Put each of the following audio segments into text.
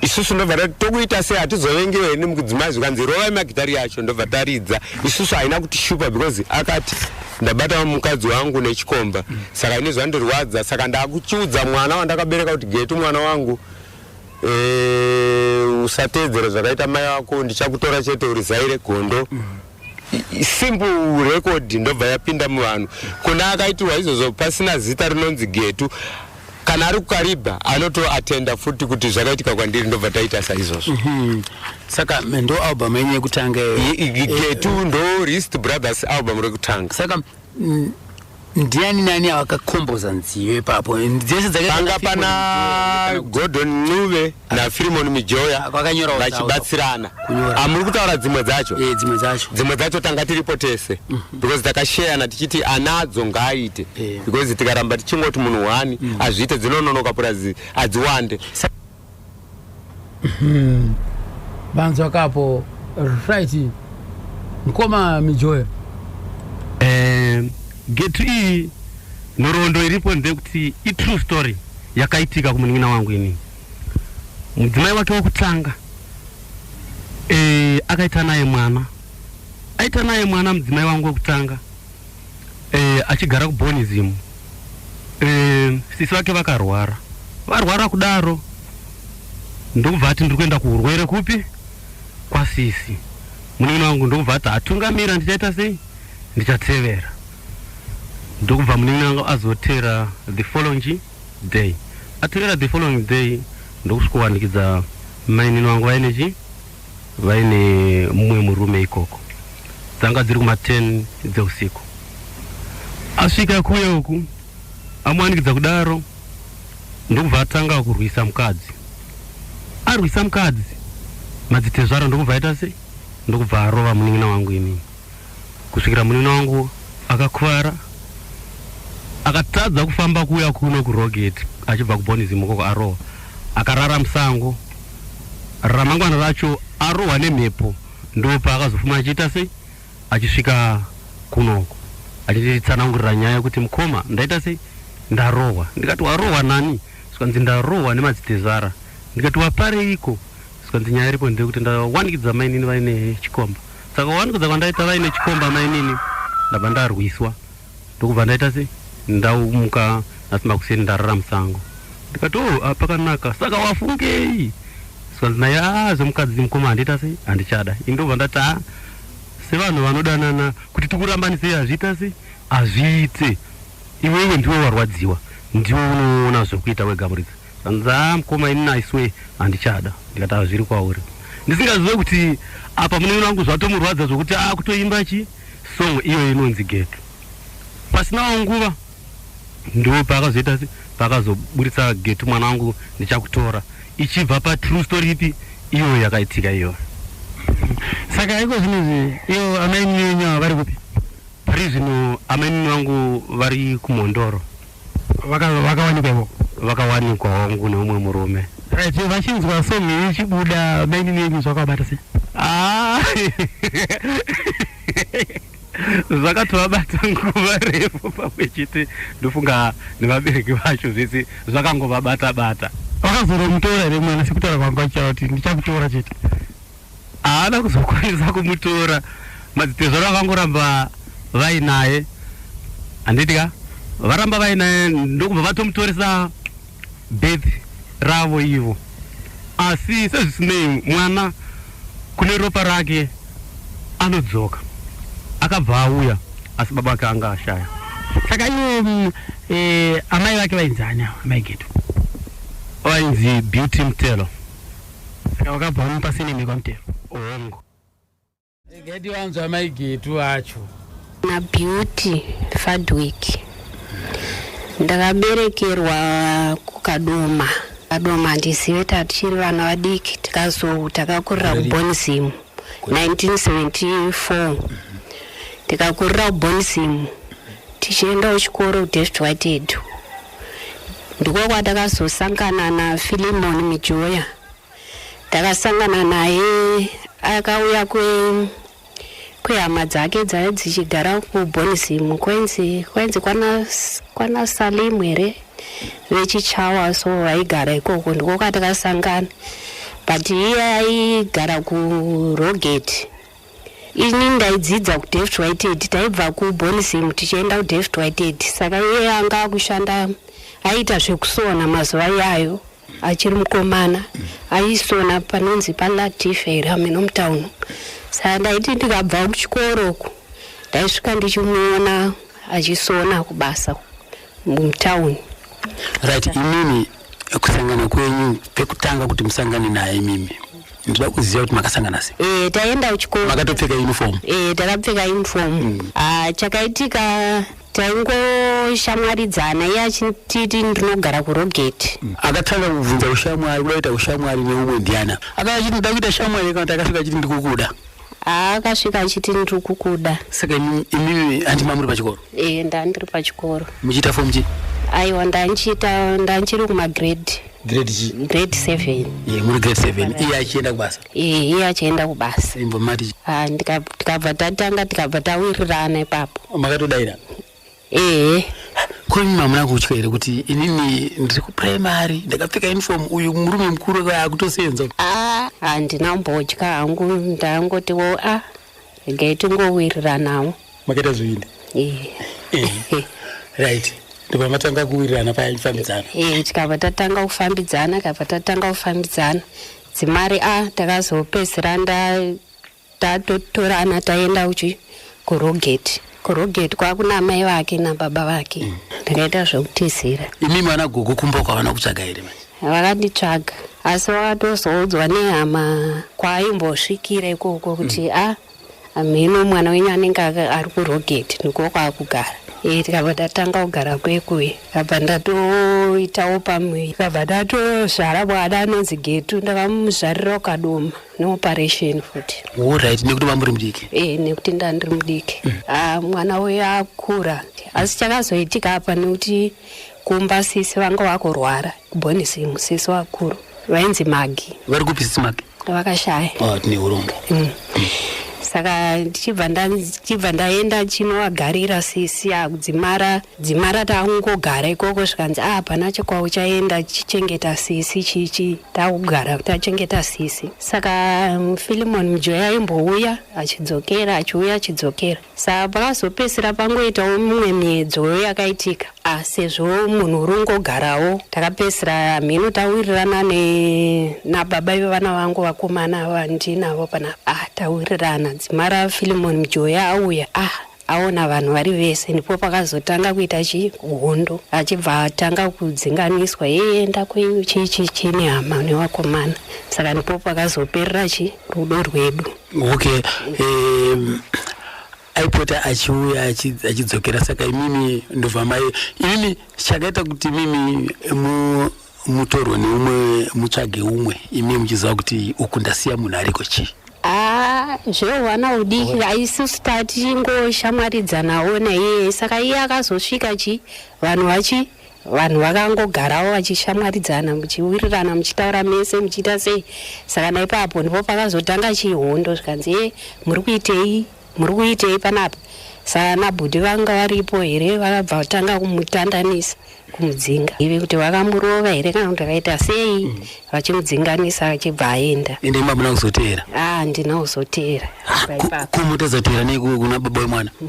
isusu ndobva tati tokuita sei hatizovengewo hene mukudzimai zvikanzi rovai magitari yacho ndobva taridza isusu haina kuti shupa because akati ndabata mukadzi wangu nechikomba saka ine zvandirwadza saka ndakuchiudza mwana wandakabereka kuti getu mwana wangu eh, usateedzera zvakaita mai wako ndichakutora chete urizaire gondo simple record ndobva yapinda muvanhu kuna akaitirwa izvozvo pasina zita rinonzi getu kana ari kukaribha anoto attenda futi kuti zvakaitika kwandiri ndobva taita saizvozvo mm -hmm. saka ndo album yenyu yekutanga getu eh, ndo rist brothers album rekutanga saka mm, ndiani nani avakakomboza nziyo ipapo dzese dzakanga pana gordon nuve nafirimon mijoya ah, vachibatsirana amuri ah, kutaura dzimwe dzacho eh, dzimwe dzacho dzimwe dzacho tanga tiripo tese mm. because takasheyana tichiti ana adzo ngaaite yeah. because tikaramba tichingoti munhu wani mm. azviite dzinononoka purazi adziwande hmm. vanzwa kapo right mkoma mijoya eh, getu iyi nhoroondo iripo ndekuti itrue story yakaitika kumunin'ina wangu ini mudzimai wake wekutanga e, akaita naye mwana Aita naye mwana mudzimai wangu wekutanga eh, achigara kuBonism eh, sisi vake vakarwara varwara kudaro ndokubva ati ndiri kuenda kuurwere kupi kwasisi munin'ina wangu ndokubva ati atungamira ndichaita sei ndichatevera ndokubva munin'ina wangu azotera the following day atevera the following day ndokusvikowanikidza mainini wangu vaine chii vaine mumwe murume ikoko. Dzanga dziri kuma 10 dzeusiku. Asvika kuya uku amuwanikidza kudaro ndokubva atanga kurwisa mukadzi. Arwisa mukadzi madzitezvara ndokubva aita sei ndokubva arova munin'ina wangu inini. kusvikira munin'ina wangu akakuvara akatadza kufamba kuuya kuno kurogeti achibva kubonism ukoko arohwa akarara musango ramangwana racho arohwa nemhepo ndopaakazofuma achiita sei achisvika kunoko achinditsanangurira nyaya yekuti mukoma ndaita sei ndarohwa ndikati warohwa nani zvikanzi ndarohwa nemadzitezvara ndikati wapareiko zvikanzi nyaya iripo ndeyekuti ndawanikidza mainini vaine chikomba Saka wani kudza kwandaita vaine chikomba mainini ndabva ndarwiswa ndokubva ndaita se ndaumuka nhasi makuseni ndarara musango ndikati oh ah, pakanaka saka wafungei sikanzi naye ah zvemukadzi mukoma handiita sei handichada ini ndobva ndati ah sevanhu vanodanana kuti tikurambanisei hazviita sei hazviite iwewe ndiwe warwadziwa ndiwe unoona zvekuita wega muridzi Zvanzi haa mkoma ini I swear handichada ndikati haa zviri kwauri ndisingazive kuti apa munin'ina wangu zvatomurwadza zvokuti akutoimba chi song iyoyo inonzi getu pasinawo nguva ndiwo paakazoita paakazoburitsa getu mwana wangu ndichakutora ichibva pa true story ipi iyoyo yakaitika iyoyo Saka iko zvinonzi ivo amainini venyu ava vari kupi? pari zvino amainini vangu vari kumhondoro vakawanikwa ivoko vakawanikwa wangu neumwe murume right vachinzwa song iyi ichibuda maini neni zvakabata sei ah. zvakatovabata nguva refu pamwe chete ndofunga nevabereki vacho zvese zvakangovabata bata vakazoromutora here mwana sekutaura kwanga kuti ndichakutora chete haana kuzokwanisa kumutora madzitezvara vangoramba vainaye handiti ka varamba vainaye ndokubva vatomutoresa birth ravo ivo asi sezvisinei mwana kune ropa rake anodzoka akabva auya asi baba vake anga ashaya saka ivo mm, eh, amai vake vainzi ani avo amai geto vainzi beauty mtelo Saka vakabva vamupa sinimi kwamutero. Hongu. Gedi wanzwa mai Getu acho. Na Beauty Fadwick. Ndakaberekerwa kuKadoma. Kadoma handizive tatichiri vana vadiki tikazo takakurira kuBonzim 1974. Tikakurira kuBonzim tichienda kuchikoro kuDavid Whitehead. Ndiko kwatakazosangana naFilimon Mijoya. Takasangana naye akauya kwe kwehama dzake dzaive dzichigara kuBonism kwenzi kwenzi kwana kwana Salim here vechichawa so vaigara ikoko ndiko kwatakasangana but iye aigara kuRogate. Ini ndaidzidza kuDevt Whitehead, taibva kuBonism tichienda kuDevt Whitehead saka iye anga akushanda aiita zvekusona mazuva iyayo achiri mukomana aisona panonzi palatif here hameno mutauno saka ndaiti ndikabva kuchikoro uku ndaisvika ndichimuona achisona kubasa mutauni right imini kusangana kwenyu pekutanga kuti musangane naye imimi ndinoda kuziva kuti makasangana sei e, taenda kuchikoro makatopfeka uniform e, takapfeka uniform mm. ah, chakaitika taingoshamwaridzana iye achititi ndinogara kurogeti mm. akatanga kubvunza ushamwari kuda kuita ushamwari neumwe ndiana akava chiti ndoda kuita shamwari kana takasvika chiti ndikukuda Haa akasvika achiti ndiri kukuda. Saka imi- imimi handi mamuri pachikoro Eh ndandiri pachikoro. muchiita form chi Aiwa ndandichiita ndandichiri kuma grade grade chi grade 7. Eh, muri grade 7 iye achienda kubasa Eh iye achienda kubasa. imbomati Ah ndika- tikabva tatanga tikabva tawirirana ipapo. makatodaira ehe ko imi mamuna kutya here kuti inini ndiri kupuraimari ndakapfeka uniform uyu murume mukuru akauya akutosenza a handina mbodya hangu ndangoti wo a regai tingowiriranawo makaita zviindi ehe Ehe. right ndipo matanga kuwirirana paya chifambidzano Eh, tikabva tatanga kufambidzana kabva tatanga kufambidzana dzimari a takazopedzisira tatotorana taenda uchi kurogeti kurogeti kwakuna amai vake nababa vake mm. ndakaita mm. zvekutizira imi mwana gogo kumba kwavana kutsvaga here manje vakanditsvaga asi vakatozoudzwa nehama kwaimbosvikira ikoko kuti mm. a ah, amheno mwana wenyu anenge ari kurogeti ndiko kwaakugara e tikabva tatanga kugara kwekuye kabva ndatoitawo pamwe kabva ndatozvara mwana anonzi getu ndakamuzvarira ukadoma neoperation futi orit nekuti vamuri mudiki e nekuti ndandiri mudiki mm. ah, mwana uyo akura asi chakazoitika apa nekuti kumba sisi vanga vakurwara kubonisi musisi wakuru vainzi magi vari kupi sisi magi vakashaya ah, tine urombo mm. mm. saka ndichibva ndaenda chinovagarira sisi akudzimara dzimara takungogara ikoko zvikanzi a ah, hapana chekwauchaenda chichengeta sisi chichi takugara kuti achengeta sisi saka um, filimon mujoya aimbouya achidzokera achiuya achidzokera saka pakazopedzisira pangoitawo mumwe miedzoyo yakaitika a sezvo munhu uri ungogarawo takapedzisira mhino tawirirana nababa ivo vana vangu vakomana ava ndinavo panapa a tawirirana dzimara filimon mujoya auya a aona vanhu vari vese ndipo pakazotanga kuita chii hondo achibva atanga kudzinganiswa hee enda kwenyu chii chii chii nehama nevakomana saka ndipo pakazoperera chii rudo rwedu okay um, aipota achiuya achi- achidzokera saka imimi ndobva mai imimi chakaita kuti imimi mu mutorwe neumwe mutsvage umwe imi muchiziva kuti uku ndasiya munhu ariko chii haa zvehwana udiki haisisu taa tichingoshamwaridzanawo naiye saka iye akazosvika chii vanhu vachi vanhu vakangogarawo vachishamwaridzana muchiwirirana muchitaura mese muchiita sei saka naipapo ndipo pakazotanga chihondo zvikanzi e muri kuitei Muri kuitei panapa? Saana bhudhi vanga varipo here vakabva vatanga kumutandanisa kumudzinga ive kuti vakamurova here kana kuti vakaita sei mm. vachimudzinganisa achibva aenda ende imba muna kuzoteera a ah, handina kuzoteera ah, kumutazoteera nei kuna baba wemwana mm.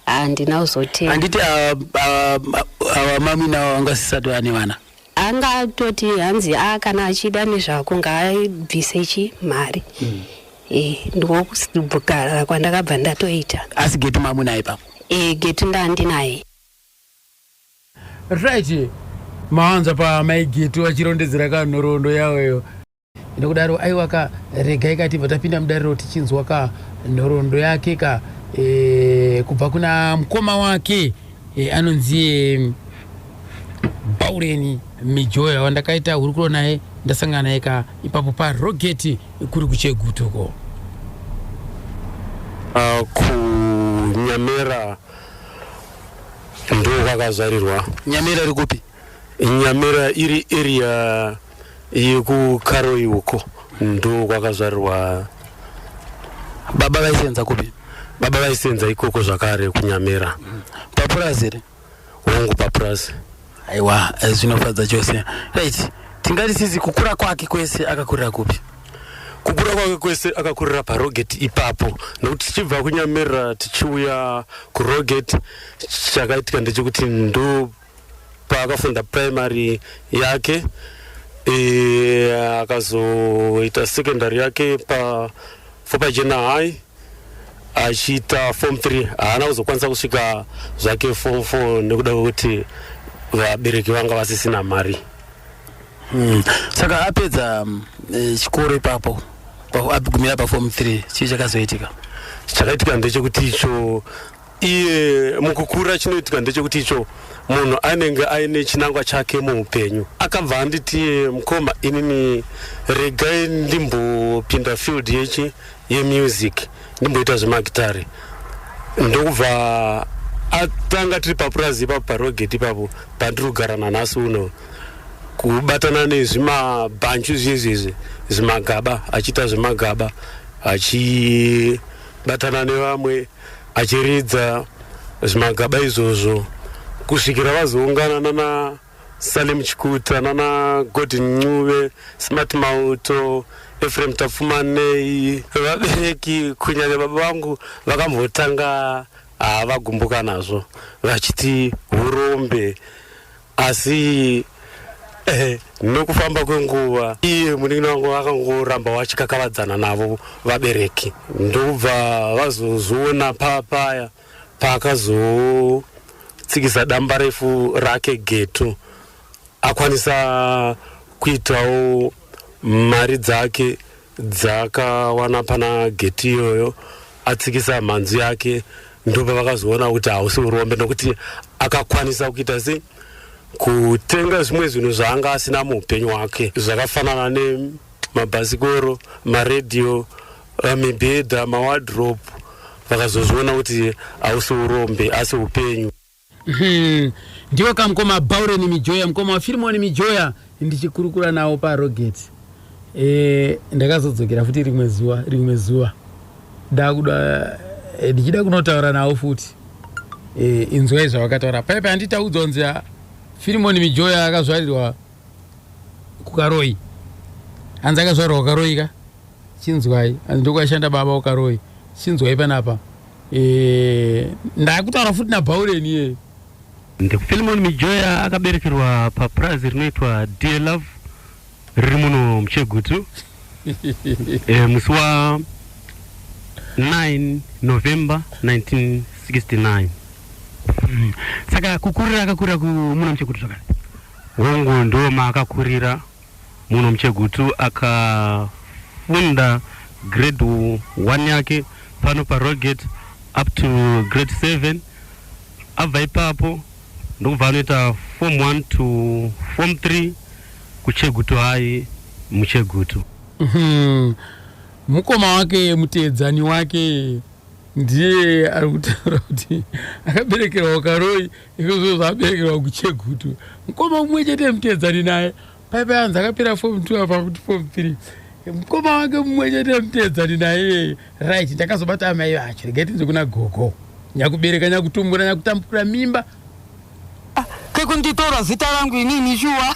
ah, handina kuzoteera handiti ava mamina vangasisati vane vana anga atoti hanzi a ah, kana achida nezvako ngaabvise chi mari mm. e, ndokugara kwandakabva ndatoita asi geti mamunaye papo e, geti ndandinaye right mawanza pamai geti vachirondedzera kanhoroondo yavo iyo Ndokudaro aiwa ka regai ka tibva tapinda mudariro tichinzwa ka nhoroondo yake ka e, kubva kuna mukoma wake e, anonzi e, Baureni Mijoya wandakaita hurukuro naye ndasangana naye ka ipapo parogeti kuri kuchegutuko uh, kunyamera ndo kwakazarirwa nyamera iri kupi Nyamera iri area yekukaroi uko ndo kwakazvarirwa baba vaisenza kupi baba vaisenza ikoko zvakare kunyamera papurazi here hongu papurazi aiwa eh, zvinofadza chose right tingati sisi kukura kwake kwese akakurira kupi kukura kwake kwese akakurira parogeti ipapo nokuti tichibva kunyamirira tichiuya kurogeti chakaitika ndechekuti ndo Paakafunda primary yake e, akazoita secondary yake pa Fopajena High achiita form 3 haana kuzokwanisa kusvika zvake form 4 nekuda kwekuti vabereki vanga vasisina mari mm. saka apedza mm, eh, chikoro ipapo agumira paform 3 chii chakazoitika chakaitika ndechekuti icho iye mukukura chinoitika ndechekuti icho munhu anenge aine chinangwa chake muupenyu akabva anditi mukoma inini regai ndimbopinda field yechi yemusic ndimboita zvemagitare ndokubva atanga tiri papurazi ipapo parogeti ipapo pandiri kugara nanhasi uno kubatana nezvimabhanchu zviezviezvi zvimagaba achiita zvemagaba achibatana nevamwe achiridza zvimagaba izvozvo kusvikira vazoungana nana Salim Chikuta nana Gordon Ncube Smart Mauto Ephraim Tapfumanei vabereki kunyanya baba vangu vakambotanga ah, vagumbuka nazvo vachiti urombe asi eh, nokufamba kwenguva iye munin'ina wangu akangoramba wachikakavadzana navo vabereki ndokubva vazozviona papaya paakazotsikisa damba refu rake geto akwanisa kuitawo mari dzake dzakawana pana geti iyoyo atsikisa mhanzu yake ndopa vakazoona kuti hausi urombe nokuti akakwanisa kuita sei kutenga zvimwe zvinhu zvaanga asina muupenyu hwake zvakafanana nemabhasikoro maradio eh, mibhedha mawadrop vakazozviona kuti hausi urombe asi upenyu Umm ndiwe ka mkoma Bauren Mijoya mkoma wa Firimoni Mijoya ndichikurukura nawo pa Rogate eh ndakazodzokera futi rimwe zuva rimwe zuva ndakuda eh, ndichida kunotaura nawo futi eh inzwai zvavakataura paipa handitaudza kunzi ah, Firimoni Mijoya akazvarirwa kukaroi hanzi akazvarirwa kukaroi ka chinzwai hanzi ndokwashanda baba kukaroi chinzwai panapa Eh, ndakutaura futi nabhaureni iyeyo ndikuphilimon mijoya akaberekerwa papurazi rinoitwa dear love riri muno muchegutu e, musi wa 9 november 1969 mm. saka kukurira akakurira muno muchegutu zvakare hongu ndo maakakurira Munhu muchegutu akafunda grade one yake pano paRollgate up to grade seven. Abva ipapo ndokubva anoita form one to form three kuChegutu High muChegutu. Mhm. Mukoma wake muteedzani wake ndiye ari kutaura kuti akaberekerwa ukaroi Izvozvo zvaberekerwa kuChegutu. Mkoma umwe chete mteedzani naye. Paipa yanzi akapera form 2 apa kuti form 3. Mkoma wake umwe chete mteedzani naye. Right, ndakazobata amai vacho. Regai tinzwe kuna gogo. Nyakubereka, nyakutumbura, nyakutambura mimba. Kekunditora zita rangu inini shuwa.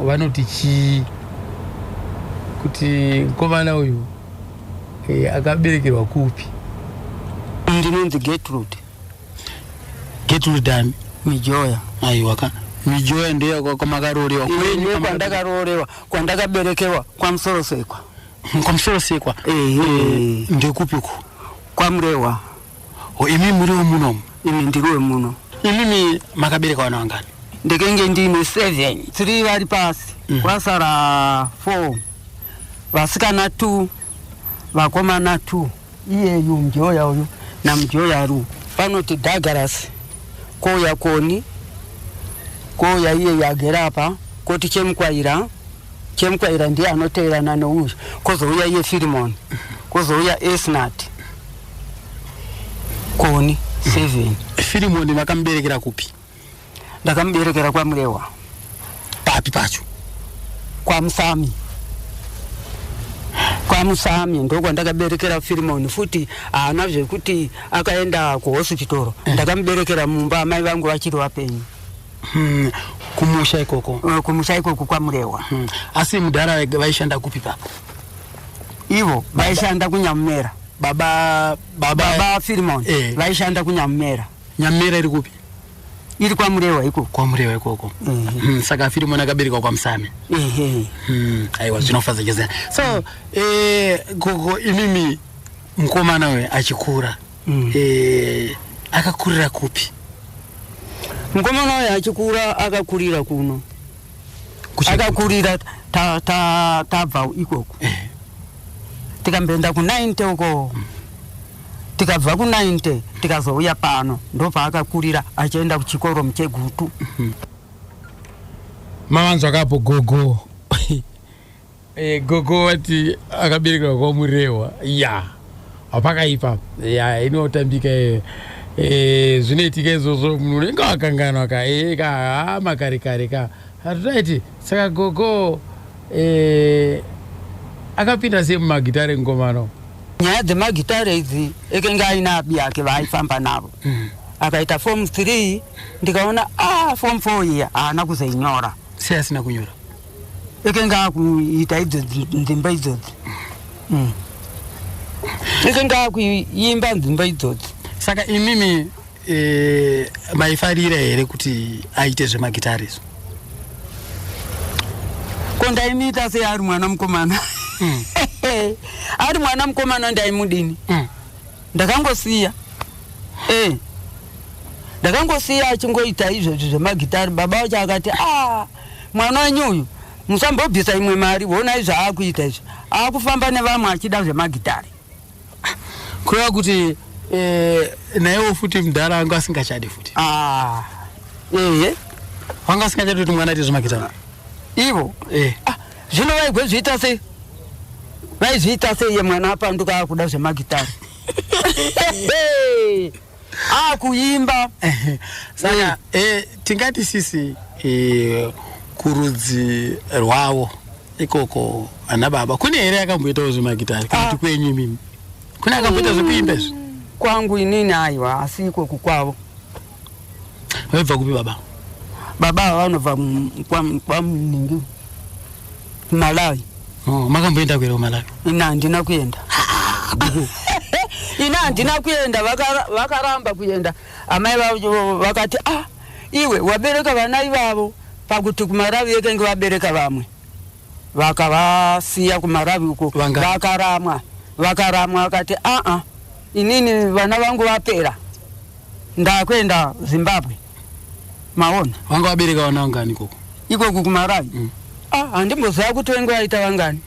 vanoti chii kuti mukomana uyu e, akaberekerwa kupi ndinonzi getrud getrud ani mijoya aiwaka mijoya ndeyo kwamakarorewa kwenyu kwandakarorewa kwandakaberekerwa kwamusorosekwa kwamusorosekwa eh, eh, ndekupiko kwamurehwa Ho imi muri wemunomu? Imi ndiri wemuno. Imimi makabereka vana vangani? Ndekenge ndiine seven, three vari pasi mm. kwasara four, vasikana two, vakomana two. Iyeyu mjoya uyu namjoya ru vanoti Douglas kouya koni kouya iyeyu agere apa koti chemukwaira chemukwaira ndiye anoteerana nouyu kozouya iye Firimoni kozouya Esnati koni 7 firimoni vakamuberekera kupi ndakamuberekera kwamurewa papi pacho kwamusami kwamusami ndokwandakaberekera firimoni futi haana zvekuti akaenda kuhosipitoro eh. ndakamuberekera mumba amai vangu vachiri vapenyu hmm, kumusha ikoko eh, kumusha ikoko kwamurewa hmm. asi mudhara vaishanda kupi papa ivo vaishanda kunyamumera baba baba baba Filimon eh. vaishanda kunyamumera nyamumera iri kupi iri kwamurewa ikoko kwamurewa ikoko mm -hmm. mm, saka filimoni akaberekwa kwamusame mm -hmm. mm, aiwa zvinofadza chose so mm. eh, gogo imimi mukomana uyu achikura mm. eh, akakurira kupi mukomana uyu achikura akakurira kuno akakurira tabva ikoko eh. tikamboenda kunainte uko mm. tikabva kunainte tikazouya pano ndopaakakurira achienda kuchikoro muchegutu mm-hmm. mavanzwa kapo gogo E, gogo vati akaberekerwa kwa Murehwa ya yeah. hapakaipa ya yeah, inotambika e, e, zvinoitika izvozvo munhu unenge wakanganwa ka e, ka hama kare kare ka hatutaiti saka gogo e, akapinda sei mumagitare ngomano nyaya dzemagitare idzi ekenge aine abi yake vaaifamba navo mm. akaita fom three ndikaona a ah, fom four iya haana kuzeinyora sei asina kunyora ekenge akuita idzodzi nzimba idzodzi mm. ekenge akuimba nzimba idzodzi saka imimi e, maifarira here kuti aite zvemagitari izvo ko ndaimiita sei ari mwana mukomana mm. ari mwana mukomana ndaimudini mm. ndakangosiya e. ndakangosiya achingoita izvozvi zvemagitari baba wacho akati a ah, mwana wenyu uyu musambobvisa imwe mari honai zvaakuita izvi akufamba nevamwe achida zvemagitare kureva kuti eh, naiwo futi mudhara anga asingachadi futi ah, ehe wanga asingachadi kuti mwana aite zvemagitare ivo eh. ah, zvino vaigozviita sei vaizviita sei ye mwana apanduka akuda zvemagitare akuimba saka eh, tingati sisi eh, kurudzi rwavo ikoko ana baba kune here akamboitawo zvemagitari kana kuti kwenyu imimi kune akamboita zvekuimba izvi kwangu inini aiwa asi ikoku kwavo vaibva kupi baba baba ava vanobva mu- kwa- kwamuningi kumalawi Oh, makamboenda kuera kumalawi ina handina kuenda ina handina kuenda vakara- vakaramba kuenda amai vavo vakati ah iwe wabereka vana ivavo pakuti kumaravi yekenge vabereka vamwe vakavasiya kumaravi uko Vanga- vakaramwa vakaramwa vakati aa inini vana vangu vapera ndakuenda zimbabwe maona vanga vabereka vana vangani ikoko ikoku kumarawi mm. ah, handimbozava kuti venge vaita vangani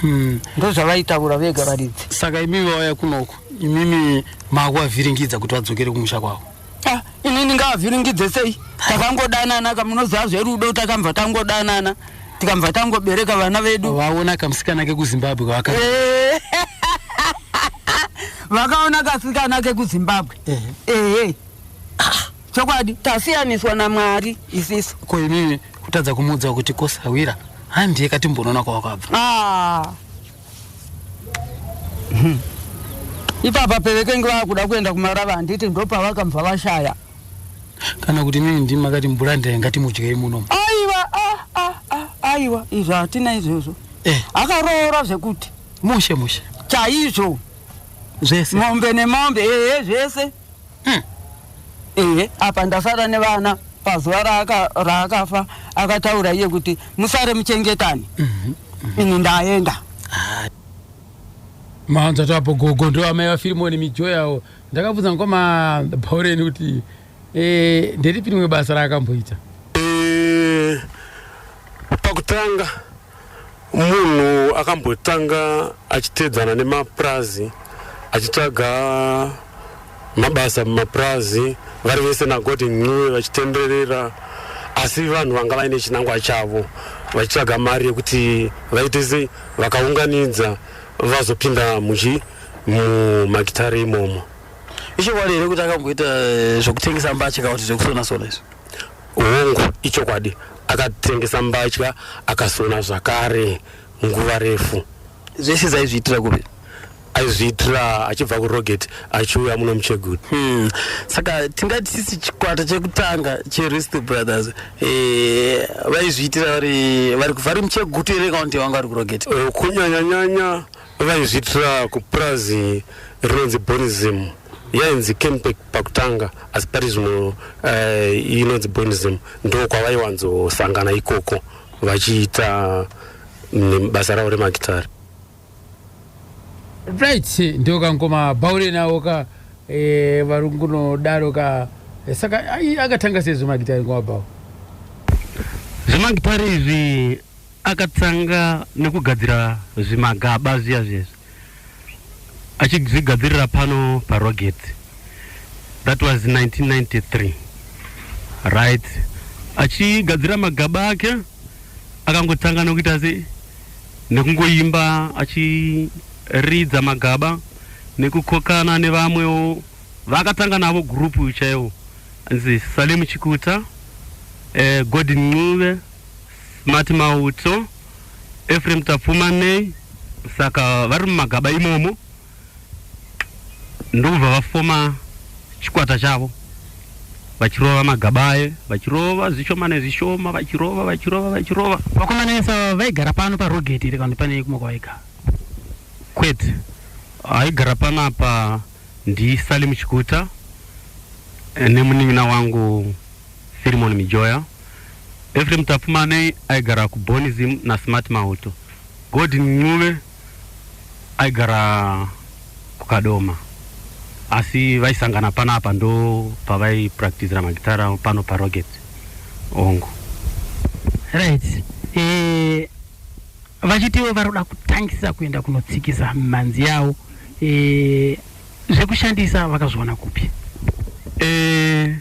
mm. ndozvavaitaura vega varidzi saka imi vauya kunoko imimi makuvavhiringidza kuti vadzokere kumusha kwavo ah, inini ngavavhiringidze sei takangodanana kamunoziva zverudo takambva tangodanana tikambva tangobereka vana vedu vaona kamusikana kekuzimbabwe kavaka eh. vakaona kasikana kekuzimbabwe ehe chokwadi tasiyaniswa namwari isisu ko inini kutadza kumuudza kuti kosawira handiye katimbonoona kwawakabva Ah. Hmm. ipapa pevekenge vakuda kuenda kumarava handiti ndopavakabva vashaya kana kuti inini ndimi makati mvura ndaye ngatimudyei muno aiwa ah, ah, ah, aiwa izvo hatina izvozvo eh, akaroora zvekuti mushe mushe chaizvo zvese mombe nemombe ehe zvese Hmm. Ehe, apa ndasara nevana pazuva raaka, raakafa akataura iye kuti musare muchengetani. Mm -hmm. Mm -hmm. Ini ndaenda. Ah. Maanza tapo gogo ndo amai vaFirimoni mijo yawo. Ndakabvunza ngoma Bhaureni kuti eh nderipi rimwe basa raakamboita? Eh pakutanga Munhu akambotanga achiteedzana nemapurazi achitsvaga mabasa mumapurazi vari vese nagoti ncuwe vachitenderera asi vanhu vanga vaine chinangwa chavo vachitsvaga mari yekuti vaite sei vakaunganidza vazopinda muchi mumagitare imomo ichokwadi here kuti akamboita eh, zvekutengesa mbatya kana kuti zvekusona sona izvi Hongu, ichokwadi, akatengesa mbatya akasona zvakare nguva refu. Zvese izvi aizviitira kupi? Aizviitira achibva kuRogate achiuya muno muChegutu. Hmm. Saka tingati sisi chikwata chekutanga cheRisto Brothers eh, vaizviitira vari vari vari muChegutu here kana kuti vanga vari kuRogate? Eh, kunyanyanyanya vaizviitira kupurazi rinonzi Bonism. yainzi campec pakutanga asi pari zvino uh, inonzi bonism ndo kwavaiwanzosangana ikoko vachiita mm, basa ravo remagitari right ndo kangoma baure nawo ka e, varungu nodaro ka e, saka akatanga sei zvemagitari ngoma bawo zvemagitari izvi akatanga nekugadzira zvimagaba zviya zvezvi achizvigadzirira pano parogate that was 1993 right achigadzira magaba ake akangotanga nokuita se nekungoimba achiridza magaba nekukokana nevamwewo vakatanga navo gurupu chaiwo anzi salemu chikuta eh, godin ncube Mati Mauto, Ephraim Tapfuma nei saka vari mumagaba imomo ndokubva vafoma chikwata chavo vachirova magaba aye vachirova zvishoma nezvishoma vachirova vachirova vachirova Vakomana vese ava vaigara pano parogeti here kana kuti pane kumwe kwavaigara? kwete aigara panapa ndiSalim Chikuta eh, nemunin'ina wangu Philemon Mijoya, Ephraim Tapfumanei aigara kuBonism naSmart Mauto, Godwin Ncube aigara kuKadoma asi vaisangana panapa ndopavaipractisira magitara pano paRocket hongu. Right. Eh, vachitiwo varoda kutangisa kuenda kunotsikisa mhanzi yawo eh, Zvekushandisa vakazviwana kupi? Eh,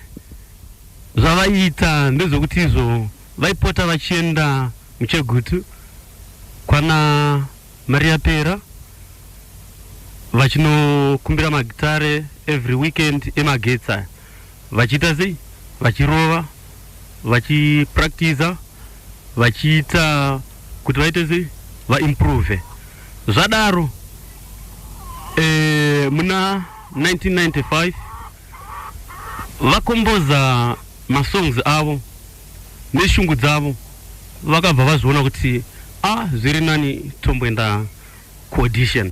zvavaiita ndezvekuti izvo vaipota vachienda muchegutu kwana Maria Pera vachinokumbira magitare every weekend emagetsi aya Vachiita sei? Vachirova, vachipractiser, vachiita kuti vaite sei? Vaimprove. Zvadaro eh, muna 1995 vakomboza masongs avo neshungu dzavo vakabva vazviona kuti ah, zviri nani tomboenda kuaudition.